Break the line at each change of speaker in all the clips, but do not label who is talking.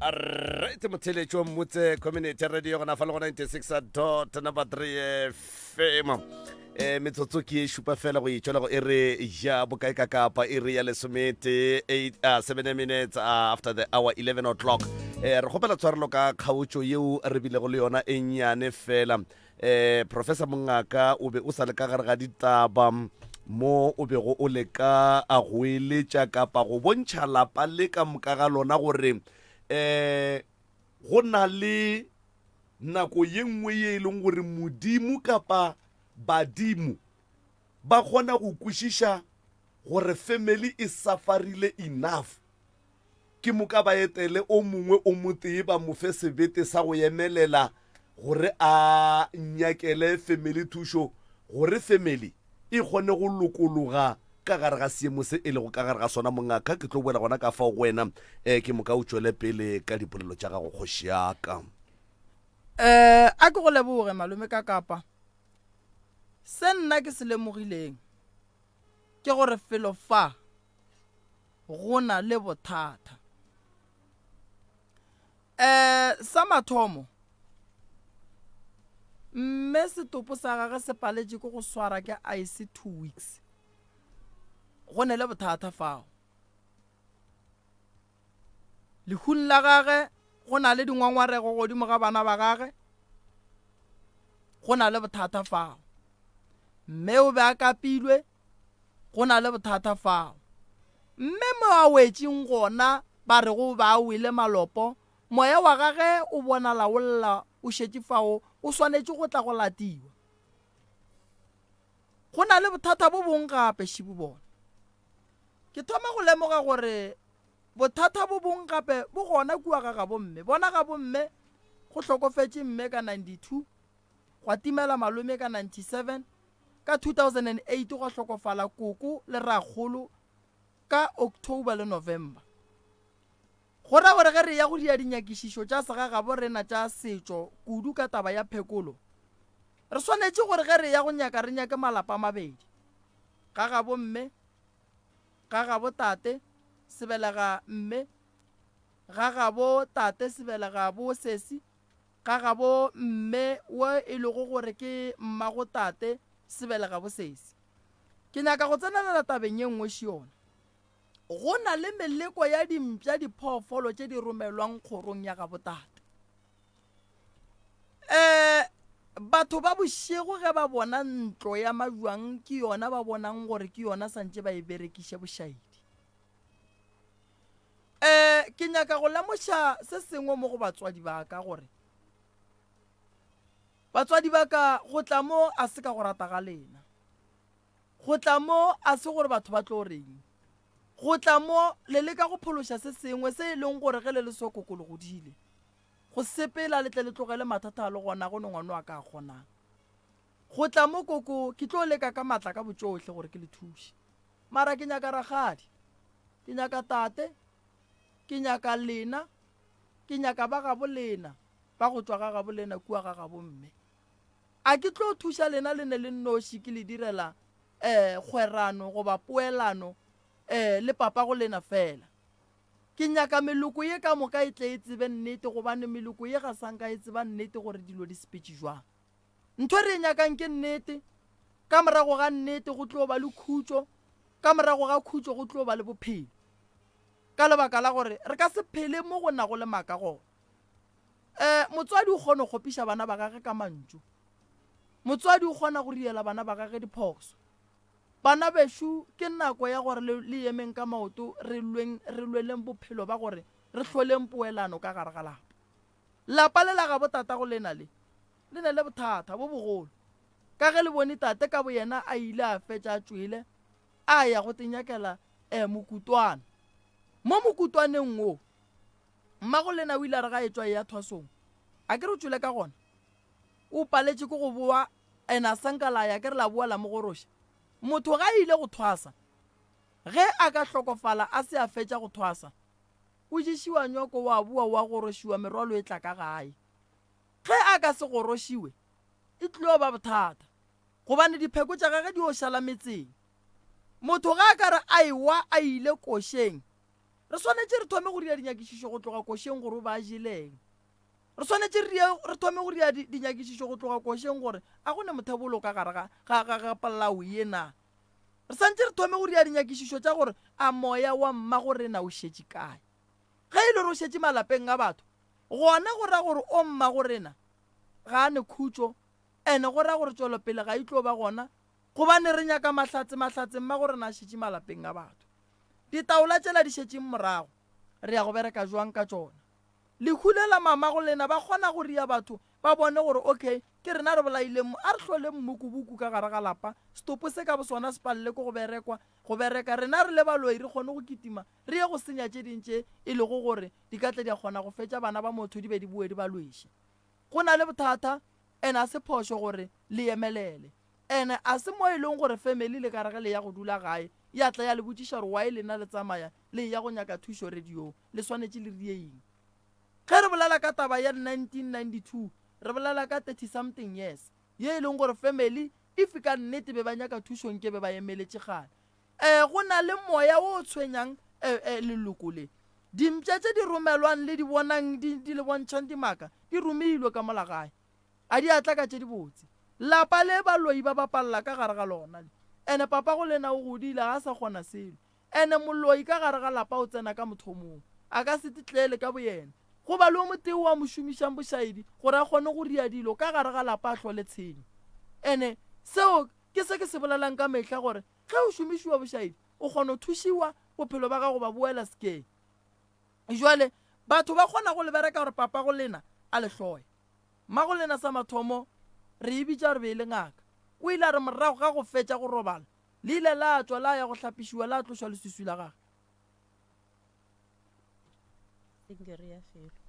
right motheletši wa mmutse community radio gona fa le go 96 dot number 3 fm um metsotso ke e šupa fela go etswela go e re ja bokae ka kapa e re ya lesomete 7 uh, minutes uh, after the hour 11 o'clock um re kgopela tshwarelo ka kgaotšo yeo re bilego le yona e nnyane fela Eh, Professor Mongaka, o be o sa le ka gare ga ditaba mo o bego o leka a go eletša kapa go bontšha lapa le ka moka ga lona gore eh go na le nako ye nngwe ye e leng gore modimo kapa badimo ba kgona go kwešiša gore family e safarile enough Ke moka ba etele o mongwe o motee ba mo fe sebete sa go emelela gore a nyakele family thušo gore family e kgone go lokologa ka gare ga seemo se e lego ka gare ga sona. Mongaka, ke tlo boela gona ka fao go wena. Um, ke moka o tšwele pele ka dipolelo tša gago, kgoši ya ka. Um, a ke go leboge, Malome Kakapa. Se nna ke se lemogileng, ke gore felo fa go na le bothata um sa mathomo mme setopo sa gage se paletše ke go swara ke ice two weeks go ne le bothata fao Lehung la gage go na le dingwangwarego godimo ga bana ba gage, go na le bothata fao. Mme o be a kapilwe, go na le bothata fao. Mme mo a wetšeng gona ba re go ba a wele malopo, moya wa gage o bonala o lla o šetše fao o swanetše go tla go latiwa. Go na le bothata bo bong gape, šibu bona. Ke thoma go lemoga gore bothata bo bong gape bo gona kua ga gabomme. Bona gabomme, go hlokofetše mme ka 92, gwa timela malome ka 97, ka 2008 gwa hlokofala koko le rrakgolo ka October le November. Go ra gore ge re eya go dia dinyakišišo tša segagabo rena tša setšo kudu ka taba ya phekolo, re swanetše gore ge re eya go nyaka re nyake malapa a mabedi, gagabo mme, gagabo tate, sebelega mme, gagabo tate, sebelega bosesi, gagabo mme wo e lego gore ke mmago tate, sebelega bosesi. Ke nyaka go tsenelela tabeng ye nngwe šiona. Go na le meleko ya dimpša diphoofolo tše di romelwang kgorong ya gabotate. E, batho ba bošego ge ba bona ntlo ya majwang ke yona ba bonang gore ke yona santše ba e berekiše bošaedi. E, ke nyaka go lemoša se sengwe mo go batswadi ba ka gore batswadi ba ka go tla mo a se ka go rata ga lena. Go tla mo a se gore batho ba tlo reng. Go tla mo le leka go phološa se sengwe se e leng gore ge le le sokoko le godile. Go sepela le tle le tlogele mathata a le gona go ne ngwana wa ka a kgonang. Go tla mo koko ke tlo leka ka matla ka botšohle gore ke le thuše. Mara ke nyaka ragadi. Ke nyaka tate. Ke nyaka lena. Ke nyaka ba gabo lena. Ba go tšwa ga gabo lena kua ga gabo mme. A ke tlo thuša lena le ne le nnoši ke le direla eh, kgwerano goba poelano eh, le papago lena fela. Ke nyaka meloko ye ka moka e tle e tsebe nnete gobane meloko ye ga sanka e tseba nnete gore dilo di sepetše jwang. Ntho e re e nyakang ke nnete, ka morago ga nnete go tlo ba le khutšo, ka morago ga khutšo go tlo ba le bophelo. Ka lebaka la gore re ka se phele mo go nago le maka gona. um motswadi o kgona go kgopiša bana ba gage ka mantšu motswadi o kgona go riela bana ba gage diphoso bana bešo ke nako ya gore le yemeng ka maoto re lweng re lweleng bophelo ba gore re hloleng poelano ka gare ga lapa lapa le la gabo tata go lena le le ne le bothata bo bogolo ka ge le bone tate ka boyena a ile a fetša a tšwele a ya go tenyakela um mokutwana mo mokutwaneng wo Mmagolena o ile a re ga a etšwa eya thwasong, A ke re o tšwele ka gona? O paletše ke go boa and a sa nka la ya, ke re la boa la mo goroša? Motho ge a ile go thwasa, ge a ka hlokofala a se a fetša go thwasa, o ješiwa nyoko, wa boa wa gorošiwa, merwalo e tla ka gae. Ge a ka se gorošiwe, e tlilo ba bothata, gobane dipheko tša gage di yo šala metseng. Motho ge a ka re a ewa a ile košeng, Re swanetše re thome go dira dinyakišišo go tloga košeng gore o be a jeleng. Re swanetše re die, re thome go dira di, dinyakišišo go tloga košeng gore a go ne mothebolo ka gare ga, ga, ga, ga polao ye na. Re santše re thome go dira dinyakišišo tša gore a moya wa mmagorena o šetše kae. Ge e le gore o šetše malapeng a batho, gona go ra gore o mmagorena ga a ne khutšo, ene go ra gore tšwelopele ga e tlo ba gona, gobane re nyaka mahlatse, mahlatse mmagorena a šetše malapeng a batho. Ditaola tšela di šetšeng morago? Re ya go bereka bjang ka tšona? Lehu le la mamago lena ba kgona go ria batho ba bone gore ok ke rena re bolaileng mo. A re hloleng mmukubuku ka gare ga lapa, setopo se ka bosona se palelwe ke go berekwa, go bereka, rena re le baloi re kgone go kitima re ye go senya tše ding tše e lego gore di ka tle di a kgona go fetša bana ba motho di be di boe di ba lweše. Go na le bothata and a se phošo gore le yemelele. Ene a se mo e lego gore family le ka re ge le ya go dula gae ya tla ya le botšiša gore why lena le tsamaya le eya go nyaka thušo radio-ng, le swanetše le rieing. Ge re bolela ka taba ya 1992 re bolela ka thirty something years ye e lego gore family if ka nnete be ba nyaka thušo nke be ba emeletše kgale. Eh go na le moya wo o tshwenyang eh eh leloko le. Dimpša tše di romelwang le di bonang di di le bontšhang dimaka di romilwe ka mola gae. A di atla ka tše di botse. Lapa le baloi ba bapalela ka gare ga lona le. Ene papago le yena o godile, ga a sa kgona selo. Ene moloi ka gare ga lapa o tsena ka mothomong. A ka se titlele ka boyena. Go ba le o motee o a mo šomišang bošaedi gore a kgone go ria dilo ka gare ga lapa a hlole tshenyo. Ene seo ke se ke se bolelang ka mehla gore ge o šomišiwa bošaedi, o kgona go thušiwa bophelo ba gago ba boela sekeng. Jwale, batho ba kgona go le bereka gore papa go lena a le hloya. Mma go lena sa mathomo re e bitša gore be e le ngaka. O ile a re morago ga go fetša go robala, le ile la tšwa la ya go hlapišiwa la tlošwa leswiswi la gage.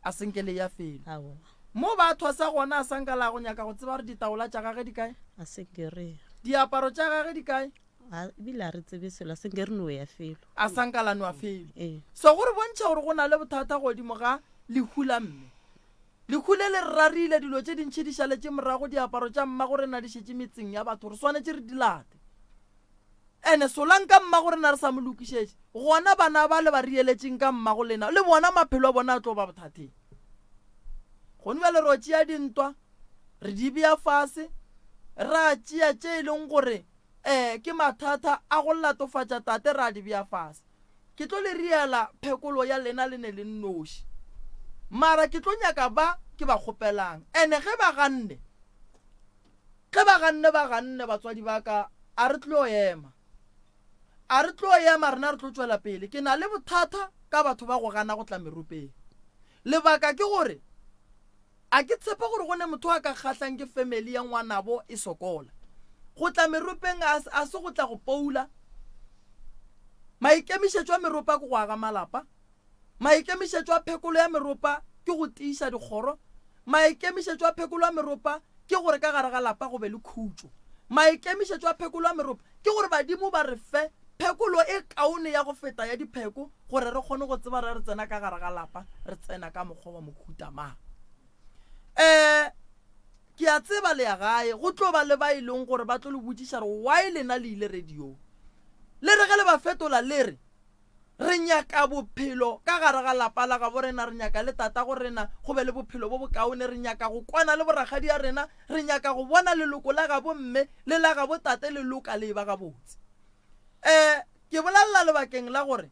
A se nke le ya felo. Mo ba thosa gona a sa nka la go nyaka go tseba gore ditaola tša gage di kae. Diaparo tša gage di kae. A, ebile a re tsebe selo a se nke re no ya felo. A sa nka la nwa felo. Ee. So go re bontšha gore go na le bothata godimo ga lehu la mme. Lehu le le re rarile, dilo tše dintši di šaletše morago, diaparo tša mmagorena di šetše metseng ya batho, re swanetše re di late. Ene solang ka mmagorena re sa mo lokišetše, gona bana ba le ba riyeletšeng ka mmagolena le bona maphelo a bona a tlo ba bothateng. Gone bjale re o tšea dintwa, Re di bea fase, ra tšea tše e leng gore um ke mathata a go latofatša tate ra di bea fase. Ke tlo le riela phekolo ya lena le ne le nnoši. Mara ke tlo nyaka ba ke ba kgopelang. Ene ge ba ganne, ge ba ganne ba ganne batswadi ba ka, a re tlo ema. A re tlo ema rena re tlo tšwela pele. Ke na le bothata ka batho ba go gana go tla meropeng. Lebaka ke gore A ke tshepe gore go ne motho a ka kgahlang ke family ya ngwanabo e sokola. Go tla meropeng a, a se go tla go poula. Maikemišetšo a meropa ke go aga malapa. Maikemišetšo a phekolo ya meropa ke go tiiša dikgoro. Maikemišetšo a phekolo ya meropa ke gore ka gare ga lapa go be le khutšo. Maikemišetšo a phekolo ya meropa Ke gore badimo ba re fe phekolo e kaone ya go feta ya dipheko gore re kgone go tseba re re tsena ka gare ga lapa re tsena ka mokgwa wa mohuta mang. Um ke a tseba le ya gae go tlo ba le ba e leng gore ba tlo le botšiša re why lena le ile radiong le re ge le ba fetola le re Re nyaka bophelo ka gare ga lapa la gabo rena, re nyaka le tatago rena go be le bophelo bo bokaone, re nyaka go kwana le borakgadi a rena, re nyaka go bona leloko la gabo mme le la gabo tate le loka le eba gabotse. E, ke bolelela lebakeng la gore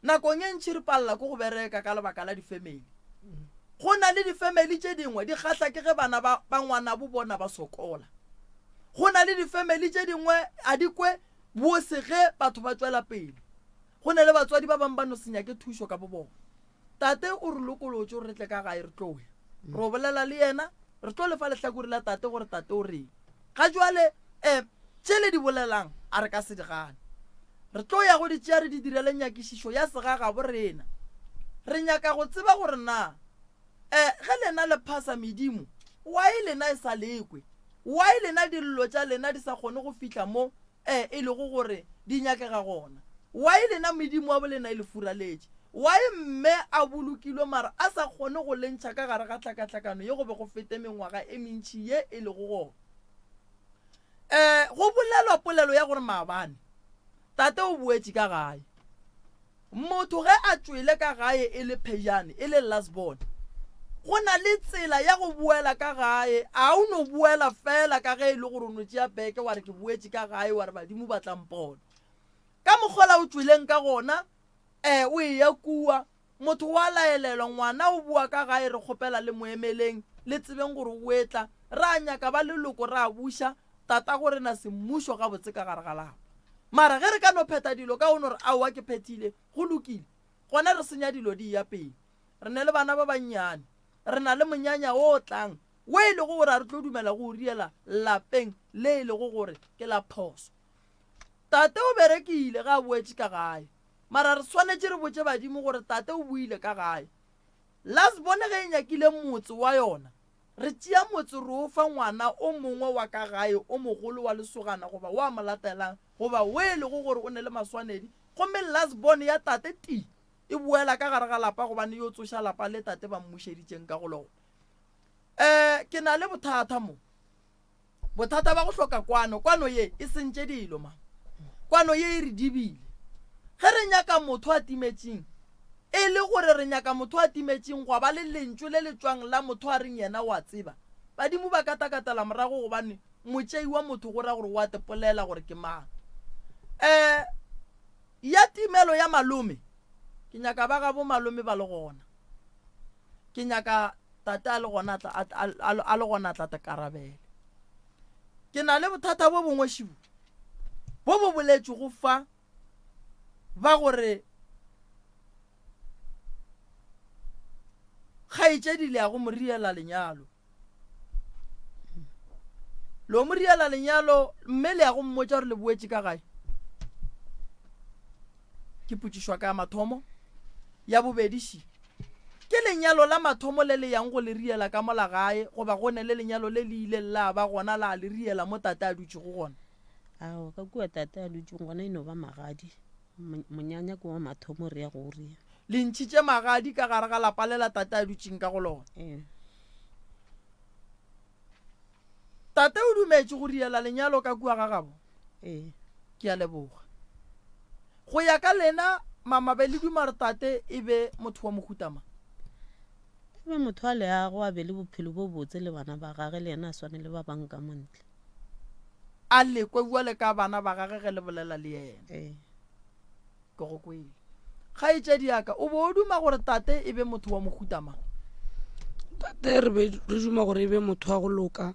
nakong e ntši re palela ke go bereka ka lebaka la difemeli. Go na le difemeli tše dingwe di kgahla ke ge bana ba, ba ngwanabo bona ba sokola. Go na le difemeli tše dingwe a di kwe Bose ge batho ba tšwela pele, go na le batswadi ba bangwe ba no se nyake thušo ka bobona. Tate o re lokolotše gore re tle ka gae re tlo ya. Re o bolela le yena, re tlo lefa lehlakore la tate gore tate o reng. Ga jwale, eh, tše le di bolelang a re ka se di gane. Re tlo ya go di tšea re di direle nyakišišo ya segagabo rena. Re nyaka go tseba gore na, eh, ge lena le phasa medimo, why lena e sa lekwe? Why lena dillo tša lena di sa kgone go fihla mo e e lego gore di nyakega gona? Why lena Modimo wa bo lena e le furaletše? Why mme a bolokilwe mara a sa kgone go le ntšha ka gare ga tlhakatlhakano ye go be go fete mengwaga e mentši ye e lego gona? E, go bolelwa polelo ya gore maabane Tate o boetše ka gae. Motho ge a tšwele ka gae e le phejane, e le last born, go na le tsela ya go boela ka gae. A o no boela feela ka ge e le gore o no tšea beke wa re ke boetše ka gae, wa re badimo ba tla mpona? Ka mokgola o tšweleng ka gona, um o eya kua, motho wa laelelwa, ngwana o boa ka gae, re kgopela le mo emeleng, le tsebeng gore o etla. Ra nyaka ba leloko, ra buša, Tatago re na semmušo gabotse ka gare ga lapa. Mara ge re ka no phetha dilo ka o no re aowa ke phethile, go lokile. Gona re senya dilo di eya pele. Re ne le bana ba bannyane. Re na le monyanya o tlang wo e lego gore a re tlo dumela go o riela lapeng le e lego gore ke la phoso. Tate o berekile ge a boetše ka gae. Mara re swanetše re botše badimo gore tate o boile ka gae. Lasbone ge e nyakile motse wa yona Re tšea motse re o fa ngwana o mongwe wa ka gae o mogolo wa lesogana goba wa mo latelang goba wo e lego gore o ne le maswanedi, gomme last born ya tate tii e boela ka gare ga lapa gobane yo tsoša lapa le tate ba mmušeditšeng ka go lona. Ee, ke na le bothata mo. Bothata ba go hloka kwano, kwano ye e sentše dilo, ma. Kwano ye e re dibile. Ge re nyaka motho a timetšeng, e le gore re nyaka motho a timetšeng gwa ba le Lentšu le le tšwang la motho a reng yena wa tseba. Badimo ba ka takatela morago gobane motšei wa motho go ra gore wa tepolela gore ke mang. Um Ya timelo ya malome, ke nyaka ba gabo malome ba le gona. Ke nyaka Tate a le gona tla, a, a, a, a le gona tla takarabele. Ke na le bothata bo bongweši bo, bo bo boletšwego fa ba gore kgaetšedi le ya go mo riela lenyalo. lo mo riela lenyalo mme le ya go mmotsa gore le boetse ka gae ke putsišwa ka ya mathomo ya bobedi si ke lenyalo la mathomo le le yang go le riela ka mola gae goba go ne le lenyalo le le ile la ba gona la le riela mo tate a dutšego gona ao ka kua tate a dutšego gona e no ba magadi Monyanya ke wa mathomo re ya go o ria. Le ntšhitše magadi ka gare ga lapa le la tate a dutšeng ka go lona. Ee. Tate o dumetše go riela lenyalo ka kua ga gabo? Ee. Ke a leboga. Go ya ka lena mamabe le duma gore tate e be motho wa mohuta mang? E be motho wa leago a be le bophelo bo botse le bana ba gage le yena a swane le ba bang ka montle. a lekwe bua le ka bana ba gage ge le bolela le yena ee. ke go kwele kgaetšedi yaka o bo o duma gore tate e be motho wa mohuta mang tate re be re duma gore e be motho wa go loka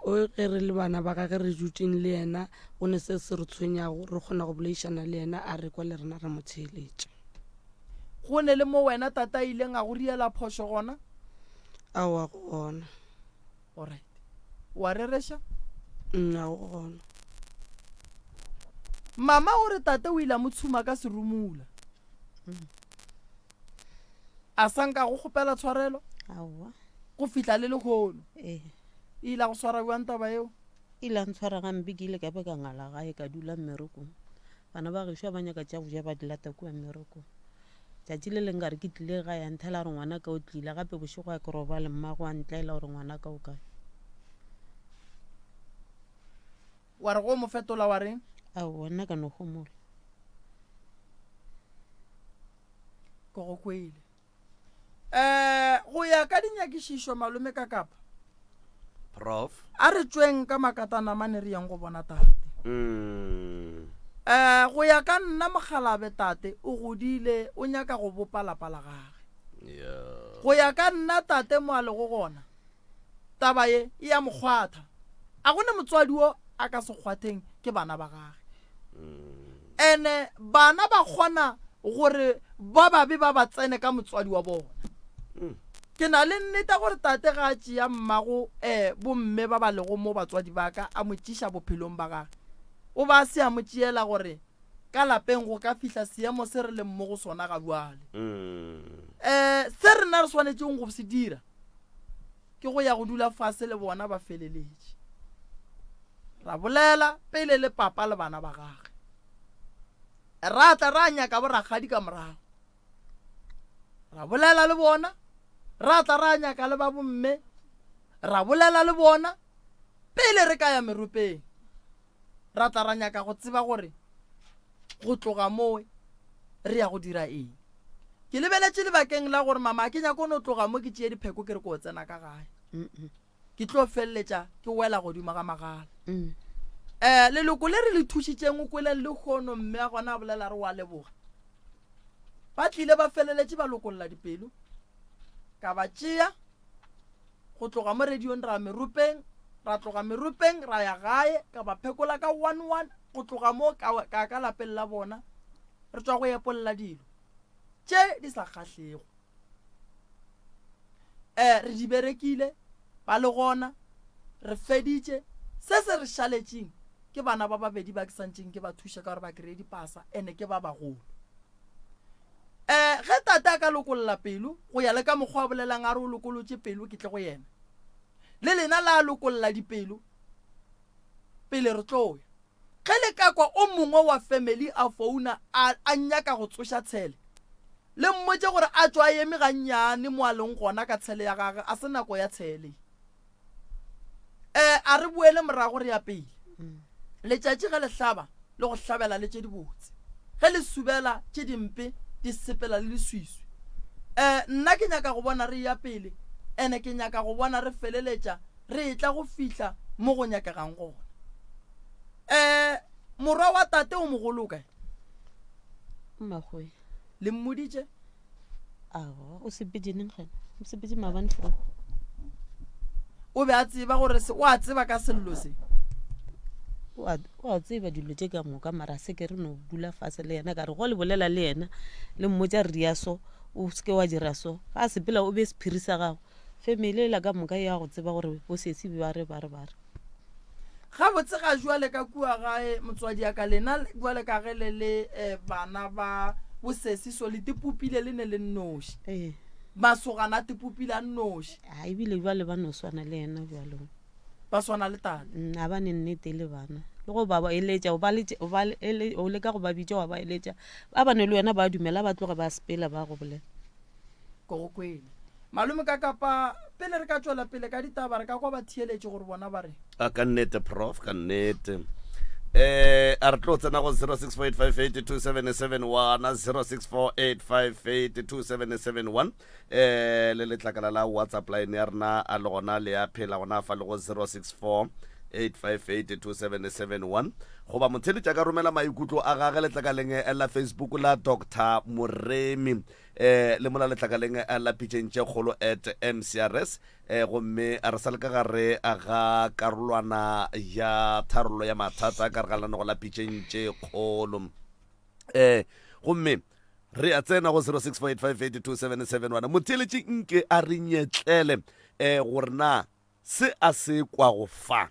o e ge re le bana ba gage re dutseng le yena go ne se se re tshwenyago re kgona go bolaišana le yena a re kwa le rena re mo tsheeletša go ne le mo wena tata a ileng a go riela phošo gona aowa go gona Alright. O a rereša? Nna o gona. Mama o re tate o ile a mo tshuma ka serumula. Mm. A sa nka go kgopela tshwarelo? Aowa. Go fihla le lehono? Ee. E ile a go swara bjang taba eo? E ile a ntshwara gampe ke ile ka be ka ngala gae ka dula mmerekong. Bana ba gešo ba nyaka tša go ja ba di lata kua mmerekong. Tšatši le leng ka re ke tlile gae, a nthela a re, Ngwanaka o tlile gape bošego a ke robale, mmago a ntlaela gore, Ngwanaka o kae? Wa re go mo fetola wa reng? Aowa, nna ka no homola. Ke go kweile. Um go ya ka dinyakišišo, Malome Kakapa Prof. A re tšweng ka makatanamane re yeng go bona tate. Um, go ya ka nna mokgalabe tate o godile o nyaka go bopa lapa la gage. Yeah. Go ya ka nna tate mo a lego gona taba ye e ya mokgwatha. A go ne motswadi wo a ka se kgwatheng ke bana ba gage. ene bana ba kgona gore ba babe ba ba tsene ka motswadi wa bona ke na le nnete gore tate ga a tšea mmago um bomme ba ba lego mo batswadi ba ka a mo tšiša bophelong ba gage o ba se a mo tšeela gore ka lapeng go ka fihla seemo se re leng mo go sona ga bjale um se rena re swanetšeng go se dira ke go ya go dula fase le bona ba feleletše, ra bolela pele le papa le bana ba gage. Ra tla ra nyaka borakgadi ka morago, ra bolela le bona, ra tla ra nyaka le ba bomme, ra bolela le bona pele re ka ya meropeng. ra tla ra nyaka go tseba gore go tloga mowe re ya go dira eng. Ke lebeletše lebakeng la gore mama a ke nyako no tloga mo ke tšeye dipheko ke re ko tsena ka gae. Ke tlo feleletša ke wela godimo ga magala. Um leloko le re le thušitšeng o kweleng le hono mme a gona a bolela re wa leboga. Ba tlile ba feleletše ba lokolola dipelo. ka ba tšea go tloga mo radiong ra meropeng ra tloga meropeng ra ya gae ka ba phekola ka one one go tloga mo ka ka lapeng la bona re tswa go epolla dilo tše di sa kgahlego um re di berekile ba le gona re feditše se se re šaletšeng ke bana ba babedi ba ke santšeng ke ba thuša ka gore ba kry-e dipasa ene ke ba bagolo E, ge Tate a ka lokolla pelo, go ya le ka mokgwa a bolelang a re o lokolotše pelo, ke tle go yena. Le lena la lokolla dipelo pele re tlo ya. Ge le ka kwa o mongwe wa family a founa a, a nyaka go tsoša tshele, le mmotše gore a tšwa a eme gannyane mo a leng gona ka tshele ya gage, a se nako ya tshele ye. um a re boele morago re ya pele mm. letšatši ge le hlaba le go hlabela le tše dibotse ge le subela tše dimpe di sepela le leswiswi um nna ke nyaka go bona re ya pele ene ke nyaka go bona re feleletša re etla go fihla mo go nyakegang gona um morwa wa tate o mogolokae mmagoe le mmoditše o be a tseba gore o a tseba ka sello se wa tseba dilo tše ka moka mara se ke re no dula fase le yena ka re go le bolela le yena le mmotsa re ya so o seke wa dira so ga sepela o be sephiri sa gago family e la ka moka ya go tseba gore bosesi ba re ba re ba re gabotse ga jwale ka kua gae motswadi ya ka lena jwale ka ge le le eh, bana ba bosesi so le tipopile le ne le nnoši ee masogana a tipopile a nnoši a Ah, ebile jale ba no swana le ena jalo ba swana le tata Mm, a ba ne nnete le bana le go ba ba eletša o ba letša- o ba le- ele- o leka go ba bitša wa ba eletša ba bane le wena ba dumela ba tloge ba sepela ba go bolela Ko go kwele. Malome ka kapa pele re ka tšwela pele ka ditaba re ka kwa ba theeletše gore bona ba re. A ka nnete prof ka nnete. Eh a re tlo tsena go 0648582771 0648582771 eh le letlakala la WhatsApp line ya rena a le gona le ya phela gona fa le go 064 8582771 goba motheletša ka romela maikutlo a gage letlakaleng la facebook la dr moremi Eh, le mola letlakaleng eh, la pitšeng tše kgolo at mcrs eh, gomme re sa le ka gare eh, ga karolwana ya tharollo ya mathata ka re ga lenogo la pitšeng tše kgolo eh gomme re a tsena go 0648582771 motheeletši nke a re nyetlele eh gore na se a se kwago fa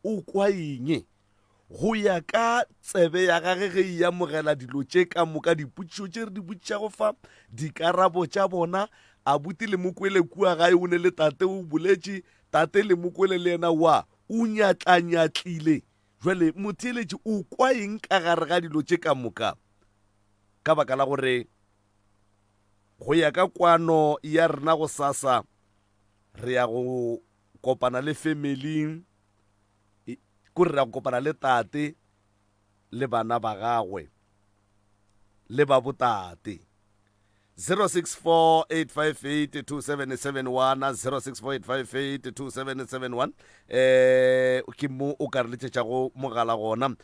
o kwa eng? Go ya ka tsebe ya gage ge e amogela dilo tše ka moka, dipotšišo tše re di botšišago fa, dikarabo tša bona, abuti Lemokwele kua gae o ne le tate, o boletše, tate Lemokwele le yena wa, o nyatlanyatlile. Bjale, motheeletši o kwa eng ka gare ga dilo tše ka moka? Ka baka la gore go ya ka kwano ya rena gosasa, re ya go kopana le family ko re ya kopana le tate le bana ba gagwe le ba botate 0648582771 0648582771 eh ke mo o ka re letšetšago mogala gona um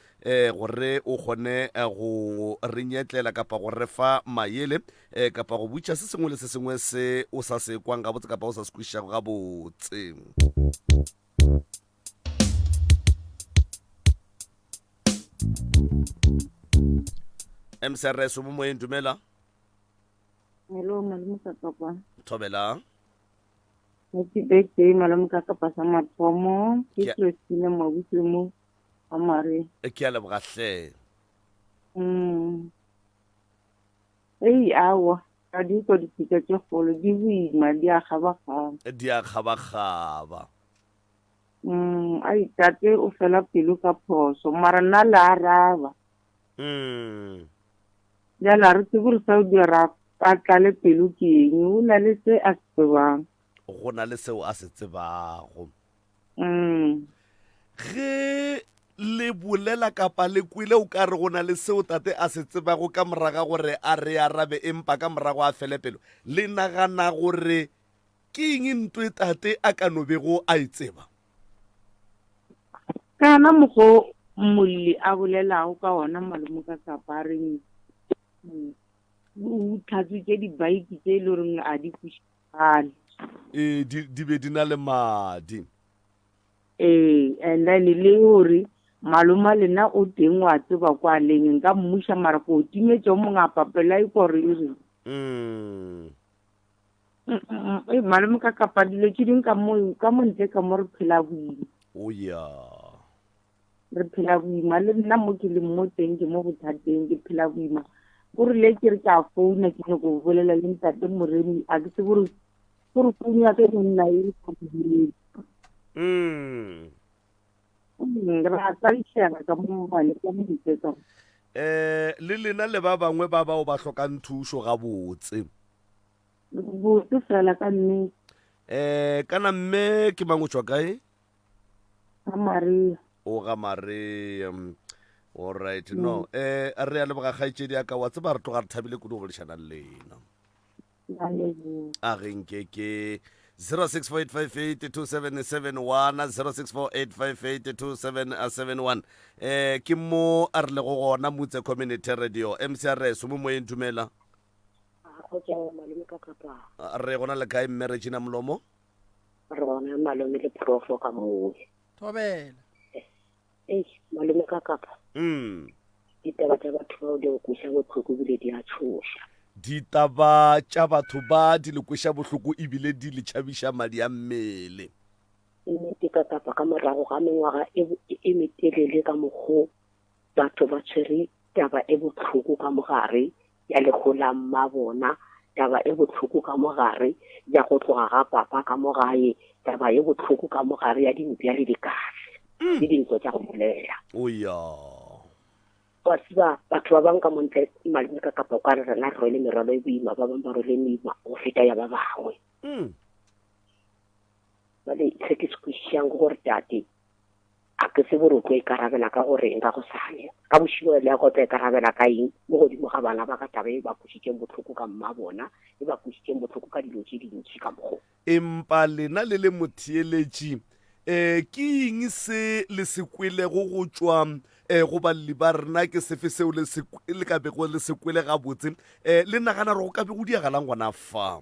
gore o kgone eh, go re nyetlela kapa go re fa mayele e, kapa go butša se sengwe le se sengwe se o sa se kwang gabotse kapa o sa se kwešišago gabotse msrs o mo moyeng dumela hello malome ka kapa thobela happy birthday malome ka kapa sa mathomo ke christine mabutse mo amare e ke a lebogatlhe mm Hei aowa, ga di kwa dipitša tše kgolo, di boima, di a kgabakgaba. Di a kgabakgaba. Mm, ai, tate o fela pelo ka phoso, mara nna le araba. Mm. Bjale a re tsebe gore sa o dira a tlale pelo ke eng, o na le se a se tsebang. Go na le seo a se tsebago. Mm. Ge le bolela kapa le kwele o ka re go na le seo tate a se tsebago ka moraga gore a re arabe empa ka morago a fele pelo le nagana gore ke eng nto e tate a ka no bego a e tseba kana mogo molli a bolelago ka ona malome ka kapareng o tlhatswitse dibaiki tse e le goreng a di Gane. Ee, di, di be di na le madi. Ee, and then e le gore maloma lena o teng wa tseba kwa leng nka mmuša mara ko o timetše o mongwe a papela e kore e reng Mm. Mm, mm, mm. Ei, malome ka kapa dilo tše ding ka mo ka mo ntle ka mo re phela boima O ya. re phela boima le nna mo ke leng mo teng ke mo bothateng ke phela boima o rile ke re ke a founa ke nyako go bolela le ntate moremi a ke se gore gore founu ya ka monna e sa direng mm. mm ra tsaišega ka mo bane ka mo ditsetsa eh le lena le ba bangwe ba bao ba hlokang thušo gabotse botse fela ka nnete eh kana mme ke mang o tswa kae Maria. O ga Maria. All right. Mm. No. Eh a re a leboga kgaitsedi ya ka wa tseba re tloga re thabile kudu go bolešana le lena. A re nke ke 0648582771 eh ke mo a re le go gona mutse community radio mcrs mo moyeng dumela re gona le kae mme regina molomo Re bona malome le profo ka moo. Thobela. Ei, malome ka kapa. Mm. Ditaba tša batho bao di nkweša bohloko ebile di a tšhoša. Ditaba tša batho ba di le kweša bohloko ebile di le tšhabiša madi a mmele. Nnete ka kapa ka morago ga mengwaga e, e, e metelele ka mokgo batho ba tshwere taba e bohloko ka mogare ya lego la mmabona, taba e bohloko ka mo gare ya go tloga ga papa ka mo gae, taba e bohloko ka mo gare ya dimpša le dikase, le dintwa tša go bolela. O ya. Wa tseba, batho ba bang ka mo ntle malome ka kapa o ka re rena re rwele merwalo e boima, ba bang ba rwele e meima go feta ya ba bangwe. Mm. Jwale se ke se kwešišang ke gore tate, A ke tsebe gore o tlo ikarabela ka go reng ka gosane. Ka bošego le ya go tla ikarabela ka eng mo godimo ga bana ba ka taba e ba kwešitšeng bohloko ka mmabona, e ba kwešitšeng bohloko ka dilo tše dintši ka mokgo. Empa lena le le motheeletši, um ke eng se le se kwelego go tšwa um go balli ba rena? Ke sefe seo le ka bego le se kwele gabotse? Um le nagana gore go ka be go diragalang gona fa?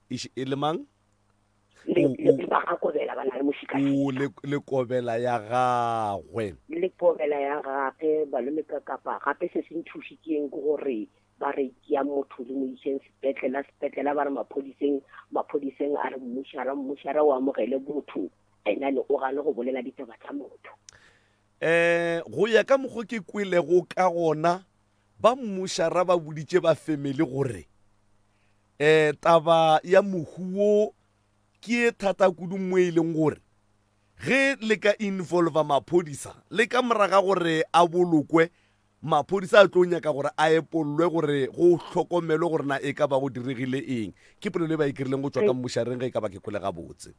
e le mang lekobela ya gagwe lekobela ya gagwe balome ka kapa gape se se nthušitseng ke gore ba re ya motho le mo iseng sepetlela sepetlela ba re maphodiseng maphodiseng a re mmušara mmušara o amogele botho enane o gane go bolela ditaba tsa motho um go ya ka mokgwa ke kwelego ka gona ba mmušara ba boditše ba family gore Ee, taba ya mohu wo ke ye thata kudu mo e leng gore ge le ka involva maphodisa le ka mora ga gore a bolokwe, maphodisa a tlo nyaka gore a epollwe gore go hlokomelwe gore na e ka ba go diregile eng. Ke polelo e ba e kirileng go tšwa ka mmušareng ge e ka ba ke kwele gabotse.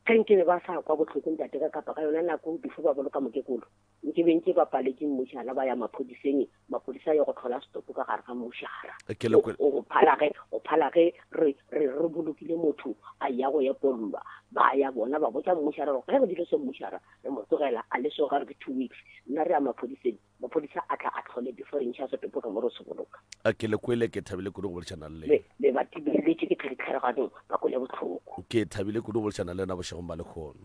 Ge nkabe ba sa kwa bohloko ntate ka kapa ka yona nako before ba boloka mokekolo, Nke be ntše ba paletše mmušara, ba ya maphodiseng, maphodisa a ye go hlola setopo ka gare ga mmušara. Ke le kwe- Go phala ge, go phala ge re, re, re bolokile motho a ya go epollwa, ba ya bona ba botša mmušara gore ge re dilo se mmušara re mo tlogela a le so ga re ke two weeks. Nna re ya maphodiseng, maphodisa a tla a tlhole before re ntšha setopo ka mo re se boloka. A Ke le kwele, ke thabile kudu go boledišana le Be, lena. be ba tibelletše ke tlhare tlhare ganong, ba kwele bohloko. Ke thabile kudu go boledišana le lena bošegong ba lekhono.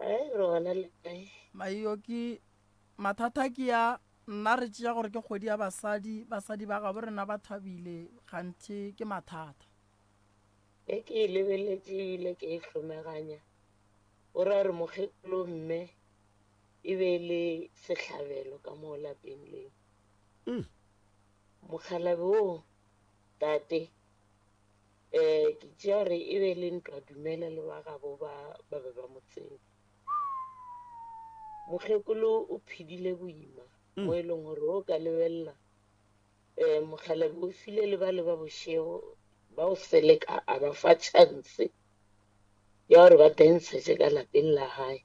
Ai, re gona le kae? Maio ke mathata ke ya nna re tšea gore ke kgwedi ya basadi basadi ba gabo rena ba thabile ganthe ke mathata e ke e lebeletše ebile ke e hlomeganya o ra re mokgekolo mme e be e le sehlabelo ka moo lapeng leo mm. mokgalabe oo tate Ee, ke tšea gore e be e le ntwa Dumela le ba gabo ba ba be ba mo tseba. Mokgekolo o phedile boima mo e leng gore o ka lebelela um mokgalabje o file le bale ba bošego ba o seleka a ba fa chance ya gore ba dentshetse ka lapeng la gae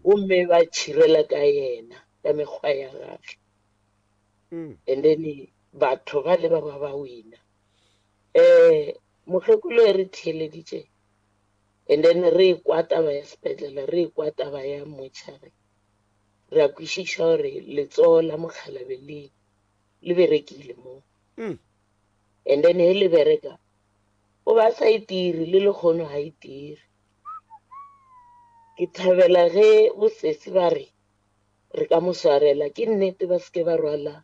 gomme ba tšhirela ka yena ka mekgwa ya gage and then batho ba le ba ba ba wina. um mokgekolo e re theeleditše and then re ekwa taba ya sepetlele re ekwa taba ya motšhare re a kwešiša gore letsogo la mokgalabe le le berekile mo mm. and then he le bereka o ba sa itiri e le lekgono ga itiri e ke thabela ge bosesi ba re re ka mo swarela ke nnete ba seke ba rwala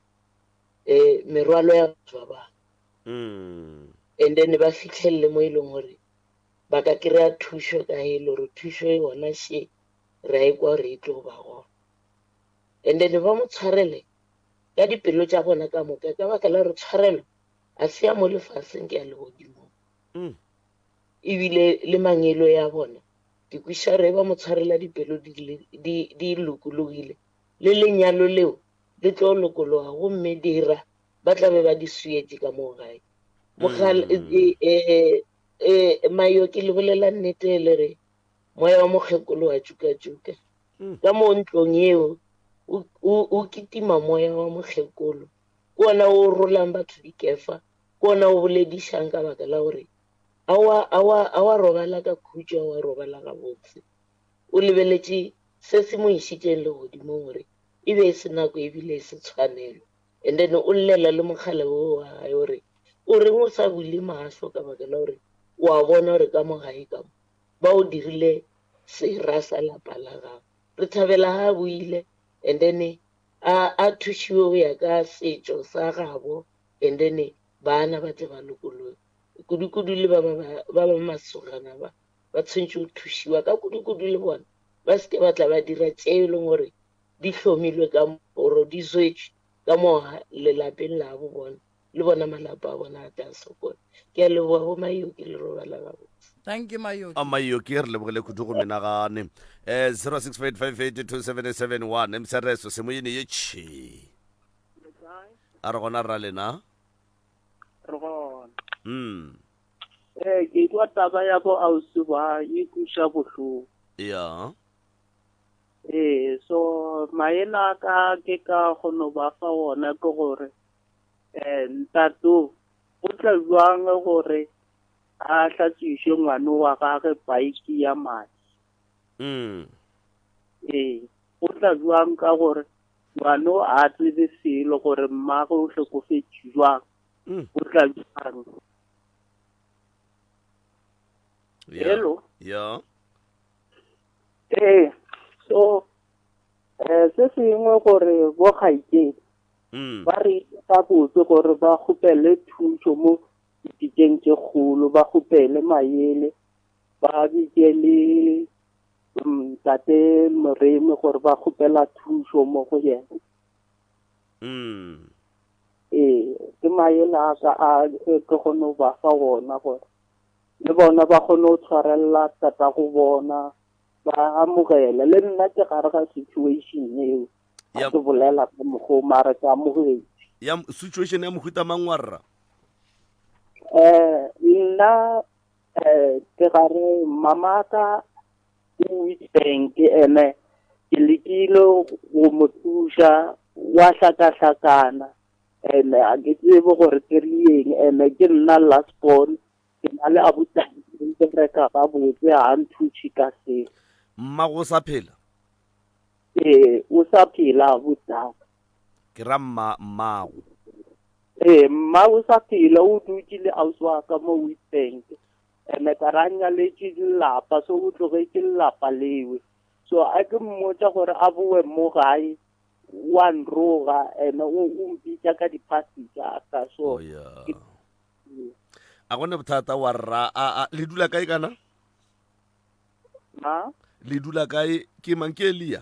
eh, merwalo ya batho ba bangwe Mm. and then ba fitlhelele mo e leng gore ba ka kry-a thušo ka e le gore thušo e gona she re a e kwa gore e tlo go ba gona and then ba mo tshwarele ka dipelo tša gona ka moka ka baka la gore tshwarelo a se ya mo lefaseng ke ya legodimo Mm. ebile le mangelo ya bona ke kwiša re ba mo tshwarela dipelo di le- di- di lokologile le lenyalo leo di tlo lokologa gomme dira ba tla be ba di swietše ka moo gae mogal um mayo ke le bolela nnete e le re moya wa mokgekolo wa tšukatšuka ka moo ntlong yeo o kitima moya wa mokgekolo ke ona o rolang batho dikefa ke ona o boledišang ka baka la gore a wa robala ka khutšo a wa robala gabotse O lebeletše se se mo išitšeng Legodimong gore e be e se nako e bile e se tshwanelo. And then o llela le mokgale wo wa gae o re, O reng o sa bule mahlo ka baka la gore o a bona gore ka mo gae ka mo ba o dirile sera sa lapa la gago? Re thabela ga a boile and then a a thušiwe go ya ka setšo sa gabo and then baana ba tle ba lokologe. Kudu kudu le ba ba ba ba masogana ba. ba tshwentše go thušiwa ka kudukudu le bona ba se ke ba tla ba dira tše e leng gore di hlomilwe ka oro di zwetšwe ka mo lelapeng la bo bona le bona malapa a bona a tla sokola ke a leboga bo mayoki le robala gabotse Thank you Mayoki. a mayoki re lebogile kudu go menagane um 0658582771 msereso semoyene ye tšhi a re gona rra lena Re gona. mm Ee, ke kwa taba ya bo ausi ba e kuša bohloko. ya Ee, so maele a ka ke ka kgono ba fa ona ke gore eh ntato o tla jwang gore a hlatswishe ngwana wa gage bike ya madi. mm Ee, o tla jwang ka gore ngwana a tsebe selo gore mmagwe o hlokofetše jwang. Mm. o tla jang Yeah. Hello? Yeah. ee so um se sengwe gore bo gaikeng Mm. ba re itse ka botse gore ba kgopele thuso mo ditikeng tse kgolo ba kgopele mayele ba bitse le mm, tate moremi gore ba kgopela thuso mo go yena Mm. Ee, ke maele a ka a e ke kgone go ba fa wona gore le bona ba kgone go tshwarelela tatago bona ba amogele le nna ke gare ga situation eo Ya- a ke bolela ka mokgwa mare ke amogetse ya m- situation ya mohuta mang wa rra um nna um ke gare mamaka O itše eng ke ene? Ke lekile go mo thuša, o a hlakahlakana. Ene ga ke tsebe gore ke re eng. Ene ke nna last born, ke na le abuti ba bereka gabotse, ga a nthushe ka se. Mmago o sa phela? Ee, o sa phela abutaka. Ke ra mma, mmago? Ee, mma o sa phela, o dutše le ausi wa ka mo Witbank. ene ka ra nyaletše lelapa so o tlogetše lelapa lewe so a ke mmotša gore a bowe mo gae wa nroga ene o mpitša ka diphasi tsa ka so a gone bothata wa rra a le dula kae kana ma le dula kae ke mang ke elia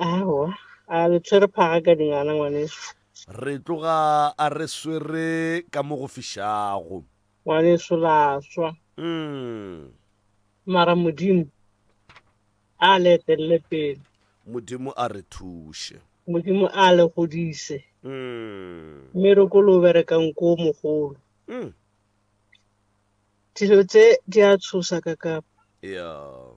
aowa a le tshwere phaga ka dingwana ngwaneso re tloga a re swere ka mo go fišago ngwaneso la swa mm. mara modimo a le etelele pele modimo a re thuše modimo a le godise mm. mme re ko lo berekang ko mogolo mm. dilo tse di a tshosa ka kapa yeah.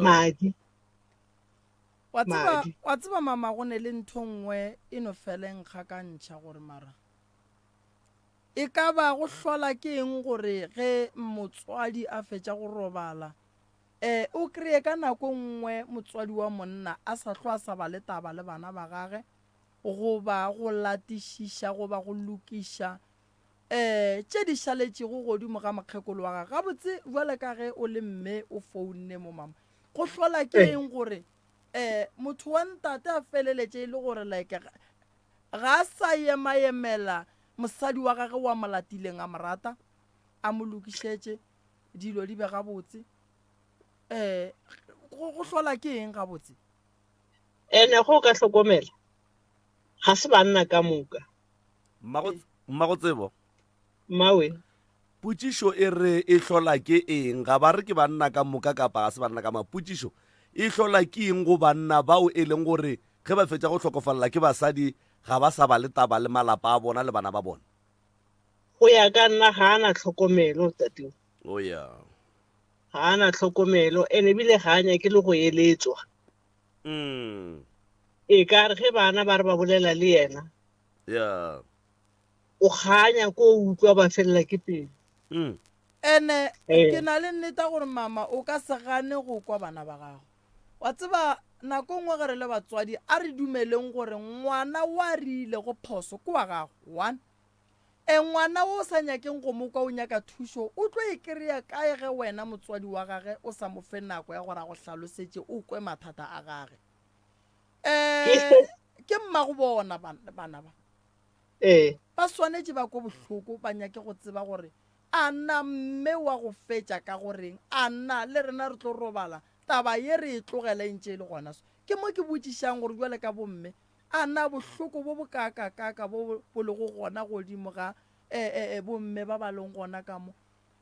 madi wa tseba wa tseba mama go ne le ntho nngwe e no feleng ga ka ntšha gore mara e ka ba go hlola ke eng gore ge motswadi a fetša go robala eh o kreye ka nako nngwe motswadi wa monna a sa hlo a sa ba le taba le bana ba gage goba go latišiša goba go lokiša ee, tše di šaletšego godimo ga mokgekolo wa gage gabotse bjale ka ge o le mme o founne mo mama go hlola ke eng gore um motho wa ntate a feleletše e le gore like ga a sa emaemela mosadi wa gage wa molatileng a morata a mo lokišetše dilo di be gabotse um go hlola ke eng gabotse ene go ka hlokomela ga se banna ka moka Mmagotsebo. Mmawe. Potšišo e re e hlola ke eng? Ga ba re ke banna ka moka kapa ga se banna ka moka. Potšišo e hlola ke eng go banna bao e leng gore ge ba fetša go hlokofalela ke basadi ga ba sa ba le taba le malapa a bona le bana ba bona? Go ya ka nna ga a na tlhokomelo tateo. Oh yeah. Ga a na tlhokomelo ene ebile ga a nyake le go eletswa. Mm. E ka re ge bana ba re ba bolela le yena, Yeah. o kganya ko o utlwa ba felela ke pelo. Mm. ene Eh. ke na le nnete ya gore mama o ka se gane go kwa bana ba gago wa tseba nako nngwe ge re le batswadi a re dumeleng gore ngwana wa rile go phoso ke wa gago one E, ngwana wo o sa nyakeng go mo kwa o nyaka thušo o tlo e kry-a kae ge wena motswadi wa gage o sa mo fe nako ya gore a go hlalosetše o kwe mathata a gage? E, ke mmago bona bana ba. E, ba swanetše ba kwe bohloko ba nyake go tseba gore a na mme wa go fetša ka goreng, a na le rena re tlo robala taba ye re e tlogela e ntše e le gona so. Ke mo ke botšišang gore jwale ka bomme A na bohloko bo bokaakakaaka bo bo lego gona godimo ga e-e-e bomme ba ba leng gona ka mo,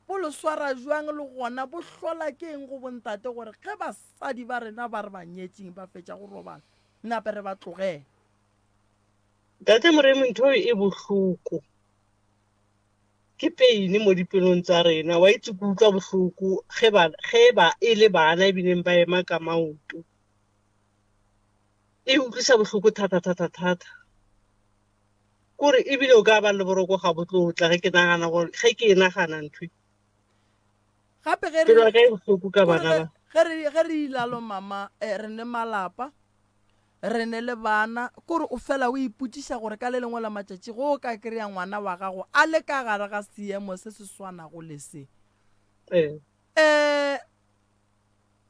bo lo swara bjang, le gona bo hlola ke eng go bontate gore ge basadi ba rena ba re ba nyetšeng ba fetša go robala, nape re ba tlogele? Ntate Moremi, ntho e bohloko ke peine mo dipelong tsa rena. Wa itse ke utlwa bohloko ge ba, ge ba e le bana e bileng ba ema ka maoto. e utliša bohloko thatathatathata. Ke gore ebile o ka ba le boroko gabotlotla ge ke nagana gore ge ke e nagana nthwe gape ge pelo ya ka e bohloko ka bana ba ge re ge re ilalo mama eh, re ne malapa re ne le bana kore o fela o ipotšiša gore ka le lengwe la matšatši go o ka kry-a ngwana wa gago a le ka gare ga seemo se se swanago le se eh um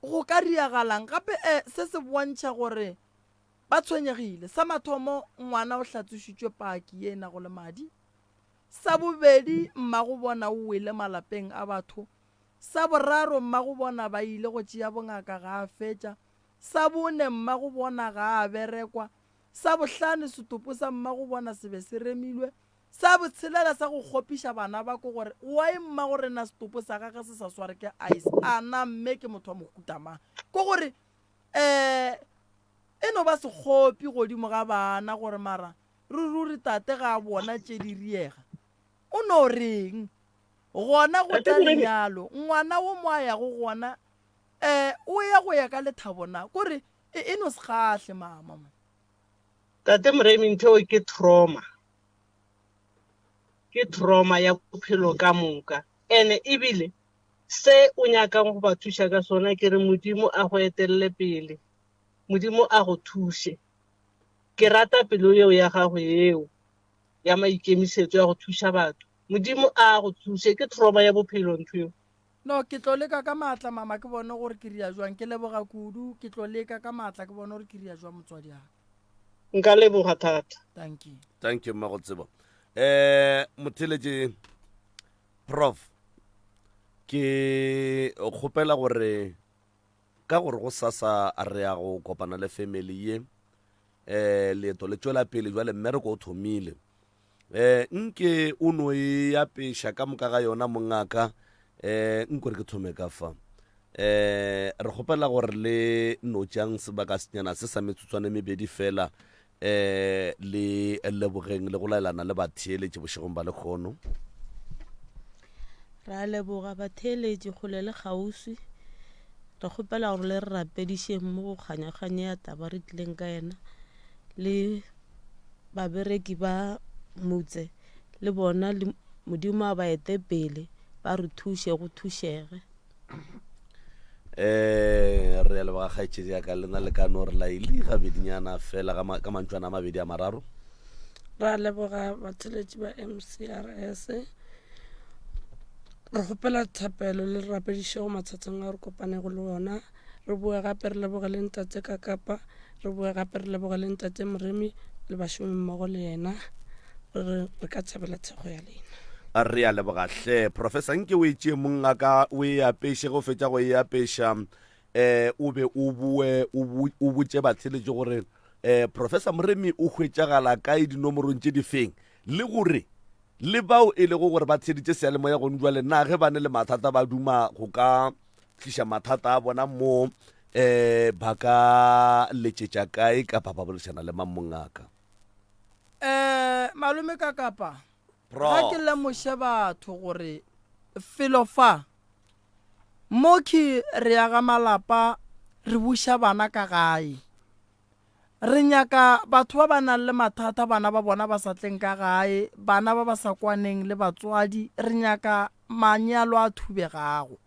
Go ka diragalang gape se se bontšha gore ba tshwenyegile? Sa mathomo, ngwana o hlatsošitšwe paki ye e nago le madi. Sa bobedi, mmagobona o wele malapeng a batho. Sa boraro, mmagobona ba ile go tšea bongaka ga a fetša. Sa bone, mmagobona ga a berekwa. Sa bohlano, setopo sa mmagobona se be se remilwe. Sa botshelela sa go kgopiša bana ba ko gore, Why mma go rena setopo sa gage se sa sware ke ice? A na mme ke motho wa mohuta mang? Ke gore, um e no ba sekgopi godimo ga bana gore mara re ruri tate ga a bona tše di riega. O no reng? Gona go tla lenyalo, ngwana wo mo a yago gona, um o ya go ya ka lethabo na? Kore e, e no se kgahle mama. Tate Moremi ntho eo ke trauma, ke trauma ya bophelo ka moka ene ebile se o nyakang go ba thuša ka sona ke re Modimo a go etelele pele, Modimo a go thuše. Ke rata pelo yeo ya gago yeo ya maikemisetso ya go thuša batho, Modimo a go thuše, ke trauma ya bophelo ntho eo. No, ke tlo leka ka maatla, mama, ke bone gore ke ria jwang. Ke leboga kudu. Ke tlo leka ka maatla ke bone gore ke ria jwang, motswadi'aka. Nka leboga thata. Dankie. Thank you, Mmagotsebo. Um motheletše prof ke kgopela gore ka gore go sasa re ya go kopana le family ye um leeto le tšwela pele jwale mmereko o thomile Eh, nke o no e apeša ka moka ga yona, mongaka. Eh, nko re ke thome ka fa. Eh, re kgopela gore le no tšang sebaka senyana se sa metsotswane mebedi fela, eh, le lebogeng le go laelana le batheeletše bošegong ba lekgono. Re a leboga batheeletši kgole le kgauswi. Re kgopela gore le re rapedišeng mo go kganyakganye ya taba re tlileng ka yena le babereki ba mutse le bona Modimo a ba ete pele ba re thuše go thušege. Eh, re a leboga kgaetšedi ya ka lena le ka no re laile gabedinyana fela ka mantšwana a mabedi a mararo ra leboga batheletši ba mcrs re kgopela thapelo le rapedišego mathateng a re kopanego le ona Re boe gape re lebogele Ntate Kakapa, re boe gape re lebogele Ntate Moremi le bašomimmogo le yena. Re re re ka thabela thekgo ya lena. Re a leboga hle. Professor, nke o e tšee mongaka, o e apeše, ge o fetša go e apeša um o be o boe o bo o botše batheeletši gore um Professor Moremi o hwetšagala kae dinomorong tše di feng, le gore le bao e lego gore ba theeditše seyalemoya gone jwale na ge ba ne le mathata ba duma go ka tliša mathata a bona mo um ba ka letšetša kae kapa ba boledišana le mang mongaka? um malome ka kapa Pro. ga ke lemoše batho gore felo fa mo ke re yaga malapa re buša bana ka gae re nyaka batho ba ba nang le mathata bana ba bona ba sa tleng ka gae bana ba ba sa kwaneng le batswadi re nyaka manyalo a thubegago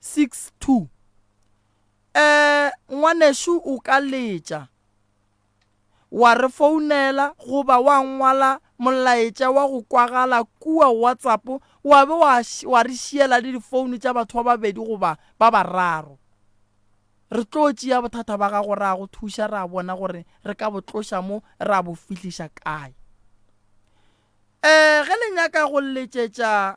6 2 um ngwanešu o ka letša wa re founela goba wa ngwala molaetša wa go kwagala kua whatsapp wa be wa, wa re šiela le difounu tša batho ba babedi goba ba bararo re tlo tšea bothata ba gago ra go thuša ra bona gore re ka bo tloša mo ra bo fihliša kae um ge le nyaka go letšetša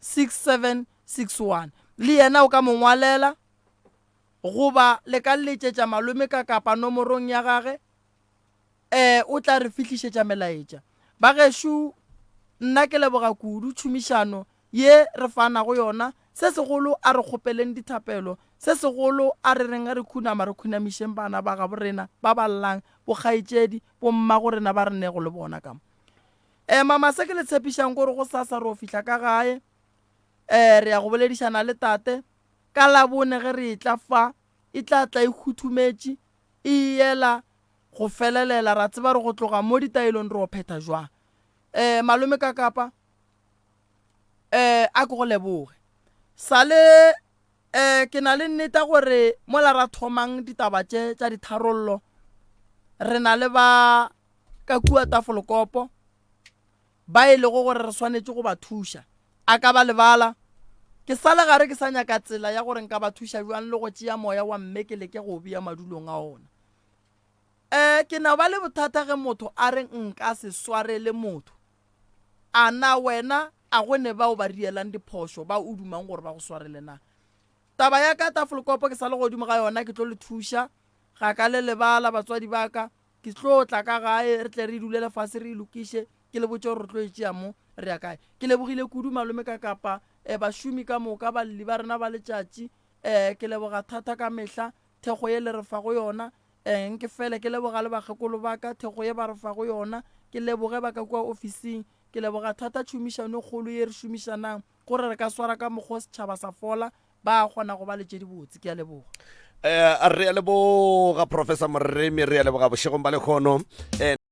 6761 le yena o ka mo ngwalela goba le ka letšetša malome ka kapa nomorong ya gage um o tla re fihlišetša melaetša ba gešo nna ke leboga kudu tšhomišano ye re fanago yona se segolo a re kgopeleng dithapelo se segolo a re reng re khunama re khunamišeng bana ba gabo rena ba ballang bokgaetšedi bommago rena ba re nego le bona ka mo um mama se ke le tshepišang gore go sasa re o fihla ka gae um re ya go boledišana le tate ka labone ge re etla fa e tla tla e khuthumetše e yela go felelela ra tseba re go tloga mo ditaelong re o phetha jwang um malome ka kapa um a ke go leboge sale um ke na le nneta gore mola ra thomang ditaba tše tša ditharollo re na le ba ka kua tafolokopo ba e lego gore re swanetše go ba thuša a ka ba lebala ke sa le gare ke sa nyaka tsela ya gore nka ba thuša bjang le go tšea moya wa mme ke leke go bea madulong a ona um ke na ba le bothata ge motho a re nka se swarele motho A na wena a go ne bao ba rielang diphošo ba o dumang gore ba go swarele na? Taba ya ka tafolkopo ke sa le godimo ga yona ke tlo le thuša, ga ka le lebala batswadi ba ka, ke tlo tla ka gae re tle re dule lefase re e lokiše ke le botše gore re tlo e tšea mo re ya kae. Ke lebogile kudu malome ka kapa eh, bašomi ka moka, balli ba rena ba letšatši eh, ke leboga thata ka mehla Thekgo ye le re fago yona, eh, nke fele ke leboga le bakgekolo ba ka, thekgo ye ba re fago yona, ke leboge ba ka kua ofising. Ke leboga thata tšhomišano e kgolo ye re šomišanang gore re ka swara ka mokgwa o setšhaba sa fola, ba a kgona go ba le tše dibotse. Ke a leboga. Eh, re a leboga, Professor Moremi, re a leboga bošegong ba lekhono. Eh.